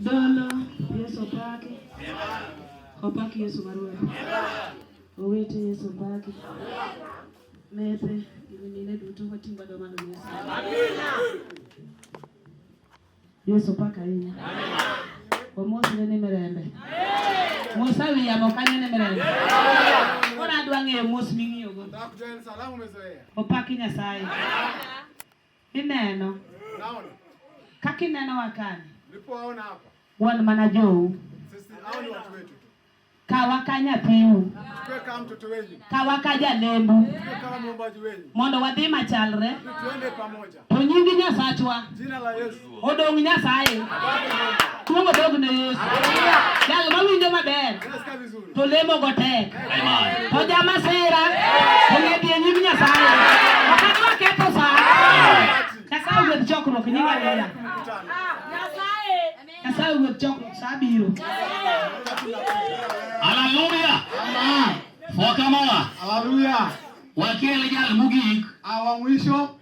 Dolo Yesu opaki. Opaki Yesu marwa. Owete Yesu opaki. Mete gimine duto watingwa do mano Yesu. Amina. Yesu opaki ahinya. Omosne ni mirembe. Musa wiyamo kanyo ni mirembe. Koro adwa ng'eyo mos ming'iyogo. Opaki Nyasaye. Ineno Naona kaka ineno wakani, nilipowaona hapa, wan mana jou, sisi hao ni watu wetu tu, kawa ka nyathiu, tuwe kama mtoto wenyu, kawa ka jalembu, tuwe kama mwombaji wenyu, mondo wadhi machalre, tuende pamoja. to nyingi Nyasachwa Jina la Yesu. Odong Nyasaye. Kuongo dog ne Yesu. Jal ma winjo maber. To lemo go tek. To jama sera. To ne bi nyim Nyasaye. Akadwa keto sa. Nyasaye wuod chokruok nyinga lela. Nyasaye wuod chokruok sa biro. Hallelujah. Amen. Foka mola. Hallelujah. Wakiele jal mugik. Awa mwisho.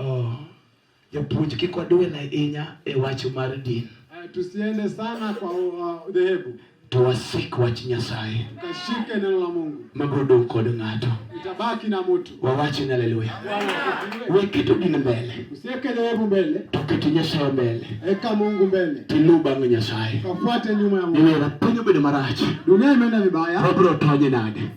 Oh, japuonj kik waduel ahinya e wach mar din. Uh, tusiende sana kwa uh, dhehebu. Uh, Tuwasik wach Nyasaye. Tukashike neno la Mungu. Magodo kod ng'ato. Itabaki na mtu. Wawache ni haleluya. Weketo din mbele. Usiweke dhehebu mbele. Tuketo Nyasaye mbele. Eka Mungu mbele. Tilu bang' Nyasaye. Kafuate nyuma ya Mungu. Iwe na penyo bedo marach. Dunia imeenda vibaya. Wabro tonye nade.